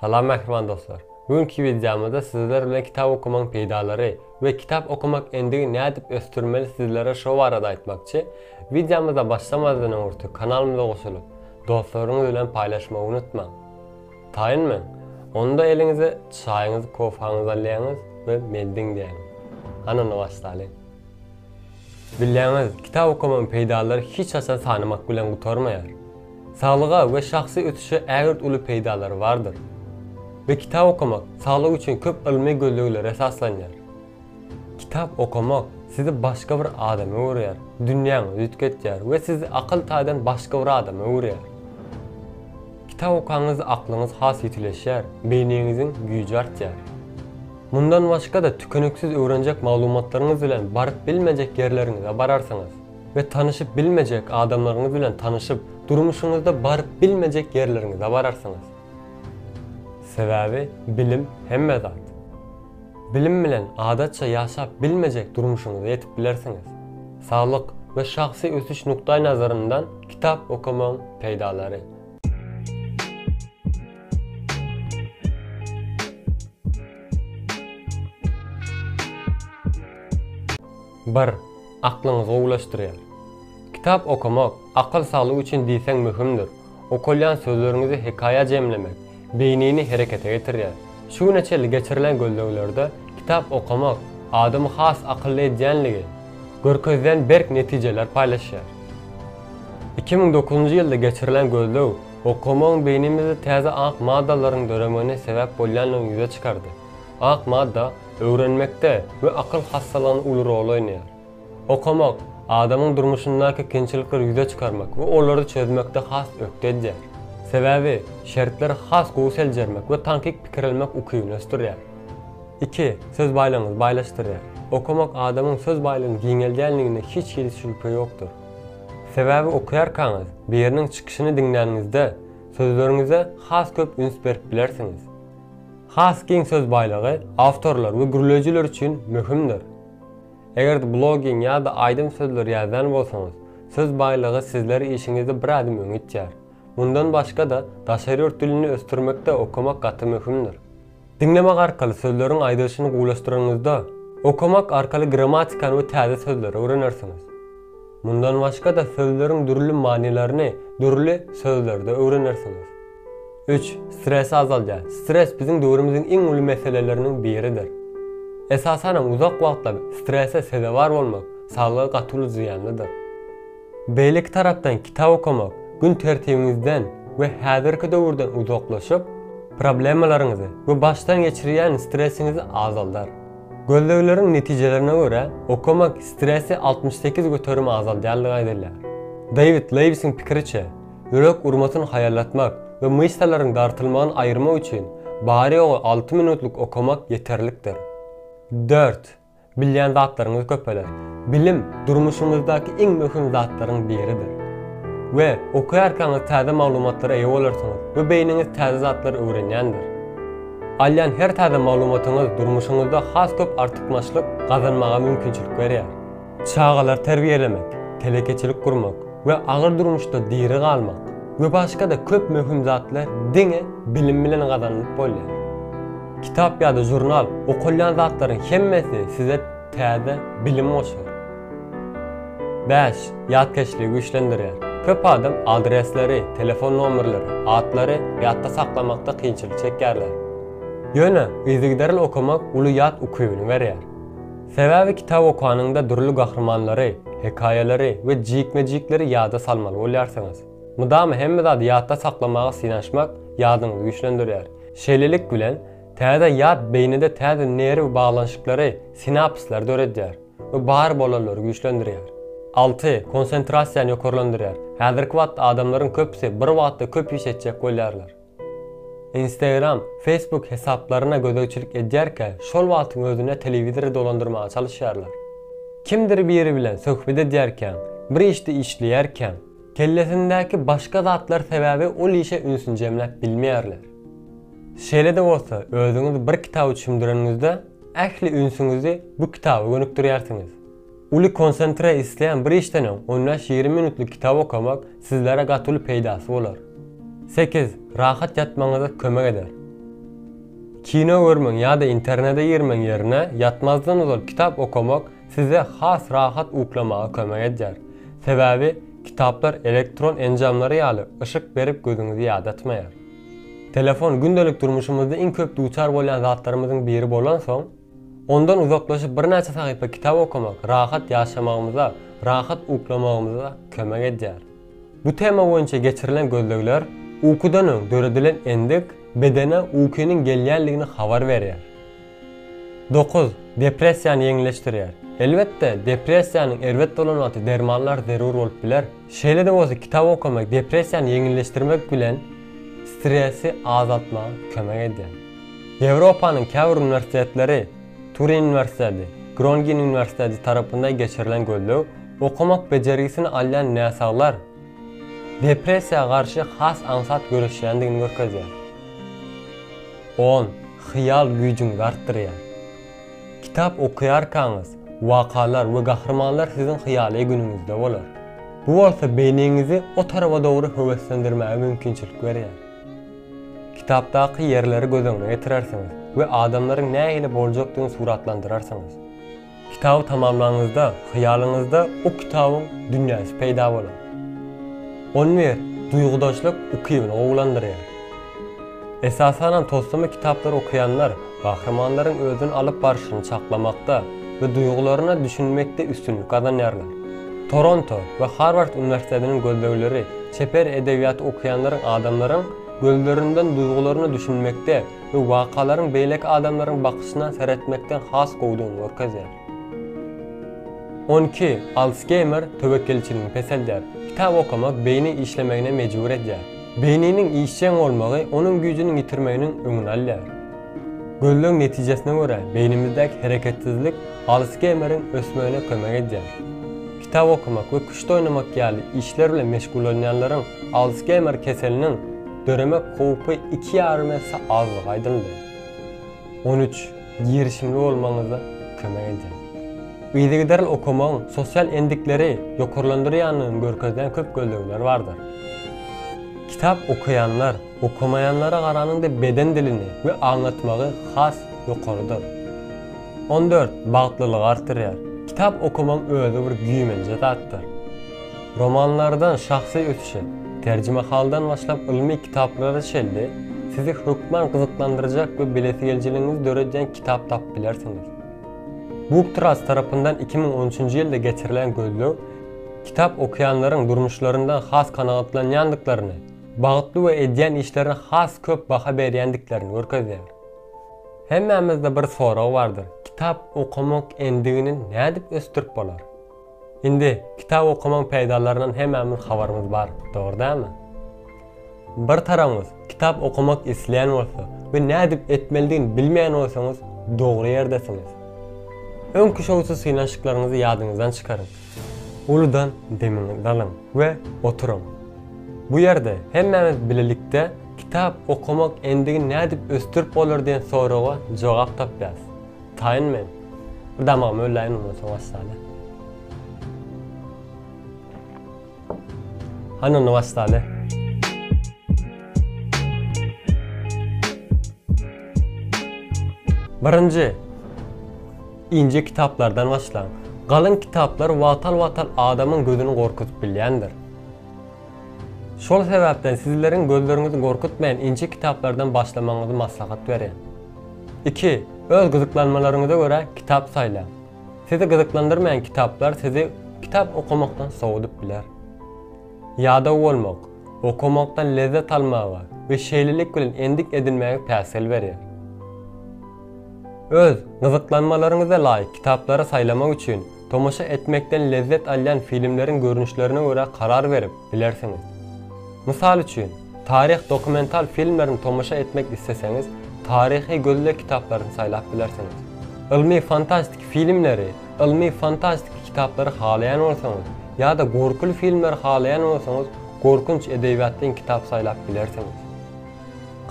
Salam mähriban dostlar! Bu günki wideomyzda sizler bilen kitap okamaň peýdalary we kitap okamak endigi nädip ösdürmeli sizlere şo barada aýtmakçy, wideomyza başlamazdan öňürti kanalymyza goşulyp, dostlaryňyz bilen paýlaşmagy unutmaň! Taýyn men! Onda eliňize çaýyňyzy kofanyzy alýaňyz we meldin diýäýiň! Hany onda başlalyň! Bilýäňiz, kitap okamyň peýdalary hiç haçan sanamak bilen gutarmaýar. Saglyga we şahsy ösüşe ägirt uly peýdalary bardyr. We kitap okamak saglyk üçin köp ylmy gözleglere esaslanýar. Kitap okamak sizi başga bir adama öwürýär, dünýäňizi üýtgetýär we sizi akyl taýdan başga bir adama öwürýär. Kitap okanňyzda aklyňyz has ýitileşýär, beýniňiziň güýji artýar. Mundan başga-da tükeniksiz öwrenjek maglumatlaryňyz bilen baryp bilmejek ýerleriňize bararsyňyz we tanyşyp bilmejek adamlaryňyz bilen tanyşyp, durmuşyňyzda baryp bilmejek ýerleriňize bararsyňyz. Sebäbi bilim hemme zat. Bilim bilen adatça ýaşap bilmejek durmuşyňyza ýetip bilersiňiz. Saglyk we şahsy ösüş nukdaýnazaryndan kitap okamagyň peýdalary. Bir, aklyňyzy gowulaşdyrýar. Kitap okamak akyl saglygy üçin diýseň möhümdir. Okalýan sözleriňizi hekaýa jemlemek beýnini herekete getirýär. Şu güne çenli geçirilen gözleglerde kitap okamak adamy has akylly edýänligi görkezilen berk netijeler paýlaşýar. Iki müň dokuzynjy ýylda geçirilen gözleg Okamagyň beýnimizde täze ak maddalaryň döremegine sebäp bolýandygyny ýüze çykardy. Ak madda öwrenmekde we akyl hassalygynda uly rol oýnaýar. Okamak, adamyň durmuşyndaky kynçylyklar ýüze çykarmak we olary çözmekde has ökde edýär. Sebäbi şertleri has gowy seljermek we tankyk pikirelmek ukybyny ösdürýär. Iki, söz baýlygyňyzy baýlaşdyrýar. Okamak adamyň söz baýlygyny giňeldýänligine hiç hili şübhe ýokdur. Sebäbi okaýarkaňyz, biriniň çykyşyny diňläniňizde, sözleriňize has köp üns berip bilersiňiz. Has giň söz baýlygy awtorlar we gürleýjiler üçin möhümdir. Eger-de blogging ýa-da aýdym sözleri ýazýan bolsaňyz, söz baýlygy sizleri işiňizde bir ädim öňe itýär. Mundan başga-da, daşary ýurt dilini ösdürmekde okamak gaty möhümdir. Diňlemek arkaly sözleriň aýdylyşyny gowulaşdyranyňyzda, okamak arkaly grammatikany we täze sözleri öwrenersiňiz. Mundan başga-da sözleriň dürli manylaryny dürli sözlerde öwrenersiňiz. Üç, stresi azaldýar. Stres biziň döwrümiziň iň uly meseleleriniň biridir. Esasanam uzak wagtlap strese sezewar bolmak saglyga gaty uly zyýanlydyr. Beýleki tarapdan kitap okamak gün tertibiňizden we häzirki döwürden uzaklaşyp, problemalaryňyzy we başdan geçirýän stresiňizi azaldar. Gözlegleriň netijelerine görä, okamak stresi altmyş sekiz göterim azaldýandygy aýdylýar. Dewid Lewisiň pikiriçe, ýürek urmasyny haýallatmak we myşsalaryň dartylmagyny aýyrmak üçin bary-ýogy alty minutlyk okamak ýeterlikdir. Dört. Bilýän zatlaryňyz köpeler. Bilim durmuşyňyzdaky iň möhüm zatlaryň biridir. We okaýarkaňyz täze maglumatlara eýe bolarsyňyz we beýniňiz täze zatlary öwrenýändir. Alýan her täze maglumatyňyz durmuşyňyzda has köp artykmaçlyk gazanmaga mümkinçilik berýär. Çagalary terbiýelemek, telekeçilik gurmak we agyr durmuşda diri galmak we başga-da köp möhüm zatlar diňe bilim bilen gazanylyp bolýar. Kitap ýa-da žurnal, okalýan zatlaryň hemmesi size täze bilim goşar. Bäş, ýatkeşligi güýçlendirýär. Köp adam adresleri, telefon nomerleri, atlary ýatda saklamakda kynçylyk çekýärler. Ýöne yzygiderli okamak uly ýat ukybyny berýär. Sebäbi kitap okanyňda dürli gahrymanlary, hekaýalary we jikme-jikleri ýada salmaly bolýarsyňyz. Mydama hemme zady ýatda saklamaga synanyşmak ýadyňyzy güýçlendirýär. Şeýlelik bilen, täze ýat beýnide täze nerw baglanyşyklary, sinapslar, döredýär we bar bolanlary güýçlendirýär. Alty, konsentrasiýany ýokarlandyrýar, häzirki wagt adamlaryň köpüsi bir wagtda köp iş etjek bolýarlar. Instagram, Facebook hesaplaryna gözegçilik edýärkä, şol wagtyň özünde telewizory dolandyrmaga çalyşýarlar. Kimdir biri bilen söhbet edýärkäň, bir işde işleýärkäň, Kellesindäki başga zatlar sebäbi ol işe ünsüni jemläp bilmeýärler. Şeýle-de bolsa, özüňiz bir kitaby çümdüreniňizde, ähli ünsüňizi bu kitaba gönükdirýärsiňiz. Uly konsentre isleýän bir işden öň on bäş, ýigrimi minutlyk kitap okamak sizlere gaty uly peýdasy bolar. Sekiz, rahat ýatmagyňyza kömek eder. Kino görmegiň ýa-da internete girmegiň ýerine ýatmazdan ozal kitap okamak size has rahat uklamaga kömek edýär, sebäbi kitaplar elektron enjamlary ýaly yşyk berip gözüňizi ýadatmaýar. Telefon gündelik durmuşymyzda iň köp duçar bolýan zatlarymyzyň biri bolansoň, ondan uzaklaşyp birnäçe sahypa kitap okamak rahat ýaşamagymyza, rahat uklamagymyza kömek edýär. Bu tema boýunça geçirilen gözlegler ukudan öň döredilen endik bedene ukynyň gelýändigini habar berýär. Dokuz, depressiýany ýeňilleşdirýär. Elbetde, depressiýanyň erbet bolan wagty dermanlar zerur bolup biler. Şeýle-de bolsa kitap okamak depressiýany ýeňilleşdirmek bilen stresi azaltmaga kömek edýär. Ýewropanyň käbir uniwersitetleri, Turin uniwersiteti, Grongin uniwersiteti tarapynda geçirilen gözleg okamak bejergisini alýan näsaglar depressiýa garşy has aňsat göreşýändigini görkezýär. On Hyýal güýjüňizi artdyrýar. Kitap okaýarkaňyz, wakalar we gahrymanlar siziň hyýaly günüňizde bolar. Bu bolsa beýniňizi o tarapa dogry höweslendirmäge mümkinçilik berýär. Kitapdaky ýerleri göz öňüne getirersiňiz we adamlaryň nähili boljakdygyny suratlandyrarsyňyz. Kitaby tamamlanyňyzda, hyýalyňyzda bu kitabyň dünýäsi peýda bolar. Ony bir duýgudaşlyk ukybyna gowulandyrýar. Esasanam toslama kitaplary okaýanlar Gahrymanlaryň özüni alyp barşyny çaklamakda we duýgularyna düşünmekde üstünlik gazanýarlar. Toronto we Harward uniwersitetiniň gözlegleri çeper edebiýaty okaýanlaryň adamlaryň gözlerinden duýgularyna düşünmekde we wakalaryň beýleki adamlaryň bakyşyna seretmekden has gowudygyny görkezýär. On iki, Alsgeýmer töwekgelçiligi peseldýär. Kitap okamak beýni işlemegine mejbur edýär. Beýniniň işjeň bolmagy onuň güýjüniň ýitirmeginiň öňüni alýar. Gözleg netijesine görä, beýnimizdäki hereketsizlik Alsgeýmeriň ösmegine kömek edýär. Kitap okamak we küşt oýnamak ýaly işler bilen meşgullanýanlaryň Alsgeýmer keseliniň döremek howpy iki ýarym esse azdygy aýdyldy. On üç. Girişimli bolmagyňyzda kömek edýär. Yzygiderli okamagyň sosial endikleri ýokarlandyrýandygyny görkezýän köp gözlegler bardyr. Kitap okaýanlar, okamaýanlara garanyňda beden dilini we aňlatmagy has ýokarydyr. On dört. Bagtlylygy artdyrýar. Kitap okamagyň özi bir güýmenje zatdyr. Romanlardan şahsy ösüşe, terjimehaldan başlap ylmy kitaplara çenli sizi hökman gyzyklandyrjak we bilesigelijiligiňizi döredýän kitap tapyp bilersiňiz. BookTrust tarapyndan iki müň on üçünji ýylda geçirilen gözleg kitap okaýanlaryň durmuşlaryndan has kanagatlanýandyklaryny, bagtly we edýän işlerine has köp baha berýändiklerini görkezýär. Hemmämizde bir sorag bardyr, kitap okamak endigini nädip ösdürip bolar? Indi kitap okamaň peýdalaryndan hemmämiz habarymyz bar, dogry dälmi? Bir taragyňyz kitap okamak isleýän bolsa we nädip etmelidigini bilmeýän bolsaňyz dogry ýerdesiňiz. Öňki şowsuz synanyşyklaryňyzy ýadyňyzdan çykaryň. Uludan demiňizi alyň we oturyň. Bu ýerde hemmämiz bilelikde kitap okamak endigini nädip ösdürip bolar diýen soraga jogap tapýas. Taýyn men. Bir damagymy ölläýin ondan soň wassaly. Hany onda wassaly. Birinji, ince kitaplardan başlaň. Galyn kitaplar wagtal-wagtal adamyň gözüni gorkuzyp bilýändir. Şol sebäpden sizleriň gözleriňizi gorkutmaýan ince kitaplardan başlamagyňyzy maslahat berýän. Iki, Öz gyzyklanmalaryňyza görä kitap saýlaň. Sizi gyzyklandyrmaýan kitaplar sizi kitap okamakdan sowadyp biler. Ýadaw bolmak, okamakdan lezzet almaga we şeýlelik bilen endik edinmäge päsgel berýär. Öz gyzyklanmalaryňyza laýyk kitaplary saýlamak üçin, tomaşa etmekden lezzet alýan filmleriň görnüşlerine görä karar berip, bilersiňiz. Mysal üçin, taryh dokumental filmlerini tomaşa etmek isleseňiz, taryhy gözleg kitaplaryny saýlap bilersiňiz. Ylmy-fantastiki filmleri, ylmy-fantastiki kitaplary halaýan bolsaňyz, ýa-da gorkuly filmleri halaýan bolsaňyz, gorkunç edebiýat deň kitap saýlap bilersiňiz.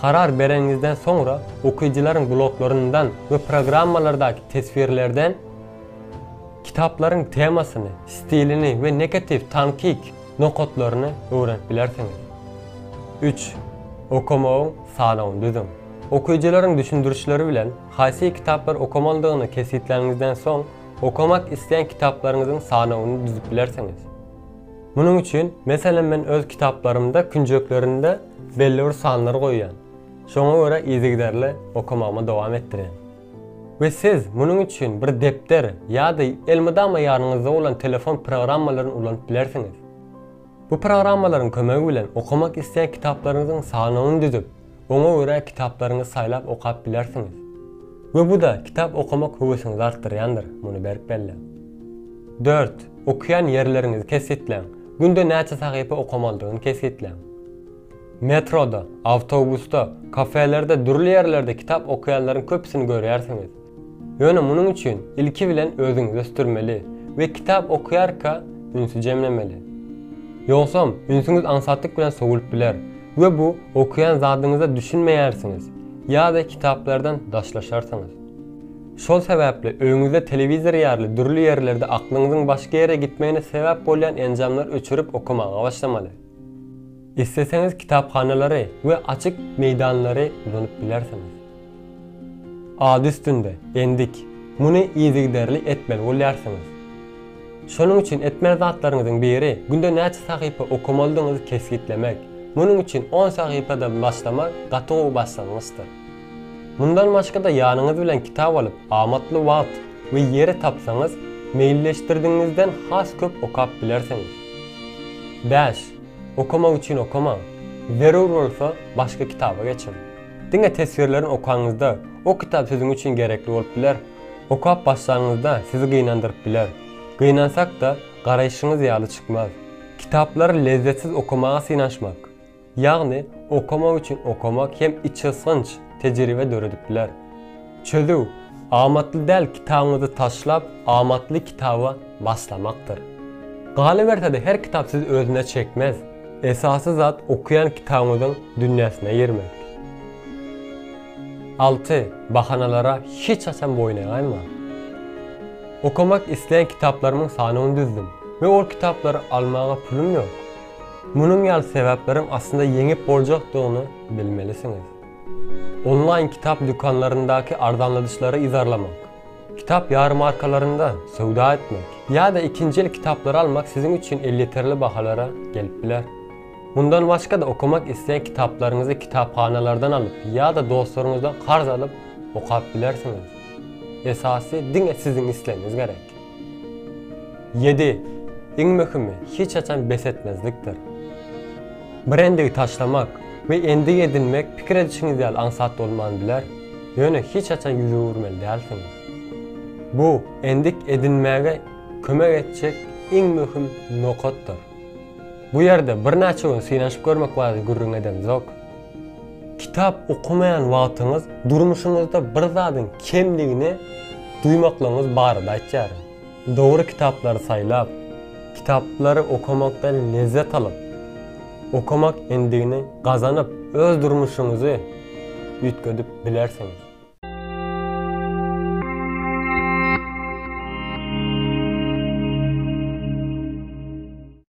Karar bereniňizden soňra, okyjylaryň bloglaryndan we programmalardaky teswirlerden, Kitaplaryň temasyny, stilini we negatiw, tankik, nokatlaryny öwrenip bilersiňiz. Üç. Okamagyň sanawyny düzüň. Okyjylaryň düşündirişleri bilen haýsy kitaplar okamalydygyny kesgitläniňizden soň, okamak isleýän kitaplaryňyzyň sanawyny düzüp bilersiňiz. Munuň üçin, meselem, men öz kitaplarymda künjeklerinde belli bir sanlar goýýan, şoňa görä yzygiderli okamagymy dowam etdirýän. We siz munuň üçin bir depder ýa-da elmydama ýanyňyzda bolan telefon programmalaryny ulanyp bilersiňiz. Bu programmalaryň kömegi bilen okamak isleýän kitaplaryňyzyň sanawyny düzüp, oňa görä kitaplaryňyzy saýlap okap bilersiňiz. We bu-da kitap okamak höwesiňizi artdyrýandyr, muny berk belläň. Dört, Okaýan ýerleriňizi kesgitläň. Günde näçe sahypa okamalydygyny kesgitläň. Metroda, awtobusda, kafelerde dürli ýerlerde kitap okaýanlaryň köpüsini görýärsiňiz. Ýöne munuň üçin ilki bilen özüňizi ösdürmeli we kitap okaýarka ünsi jemlemeli. Ýogsam, ünsüňiz aňsatlyk bilen sowulyp biler we bu okaýan zadyňyza düşünmeýärsiňiz ýa-da kitaplardan daşlaşarsyňyz. Şol sebäpli öýüňizde telewizor ýaly dürli ýerlerde aklyňyzyň başga ýere gitmegine sebäp bolýan enjamlary öçürip okamaga başlamaly. Isleseňiz kitaphanalary we açyk meýdanlary ulanyp bilersiňiz. Ady üstünde, endik, muny yzygiderli etmeli bolýarsyňyz. Şonuň üçin etmeli zatlaryňyzyň biri günde näçe sahypa okamalydygyňyzy kesgitlemek, munuň üçin on sahypadan başlamak gaty gowy başlangyçdyr. Mundan başga-da ýanyňyz bilen kitap alyp amatly wagt we ýeri tapsaňyz, meýilleşdirdigiňizden has köp okap bilersiňiz. Bäş, Okamak üçin okamaň. Zerur bolsa, başga kitaba geçiň. Diňe teswirlerini okaňyzda, o kitap siziň üçin gerekli bolup biler. Okap başlaňyzda sizi gynandyryp biler. Gynansak-da, garaýşyňyz ýaly çykmaz. Kitaplary lezzetsiz okamaga synanyşmak. Ýagny okamak üçin okamak hem içgysgynç tejribe döredip biler. Çözüw, Amatly däl kitabyňyzy taşlap, amatly kitaba başlamakdyr. Galyberse-de her kitap sizi özüne çekmez. Esasy zat okaýan kitabyňyzyň dünýäsine girmek. Alty, Bahanalara hiç haçan boýun egaýmaň. Okamak isleýän kitaplarymyň sanyny düzdüm we ol kitaplary almaga pulum ýok. Munuň ýaly sebäpleriň aslynda ýeňip boljakdygyny bilmelisiňiz. Onlaýn kitap dükanlaryndaky arzanladyşlary yzarlamak, kitap ýarmarkalarynda söwda etmek ýa-da ikinji el kitaplary almak siziň üçin elýeterli bahalara gelip biler. Mundan başga-da okamak isleýän kitaplaryňyzy kitaphanalardan alyp ýa-da dostlaryňyzdan karz alyp okap bilersiňiz. Esasy diňe siziň islegiňiz gerek. Ýedi, iň möhümi, hiç haçan bes etmezlikdir. Bir endigi taşlamak we endik edinmek pikir edişiňiz ýaly aňsat bolman biler, ýöne hiç haçan ýüz öwürmeli dälsiňiz. Bu endik edinmäge kömek etjek iň möhüm nokatdyr. Bu ýerde birnäçe gün synanyşyp görmek barada gürrüň edemzok. Kitap okamaýan wagtyňyz durmuşyňyzda bir zadyň kemligini duýmaklygyňyz barada aýtýaryn. Dogry kitaplary saýlap, kitaplary okamakdan lezzet alyp, okamak endigini gazanyp, öz durmuşyňyzy üýtgedip bilersiňiz.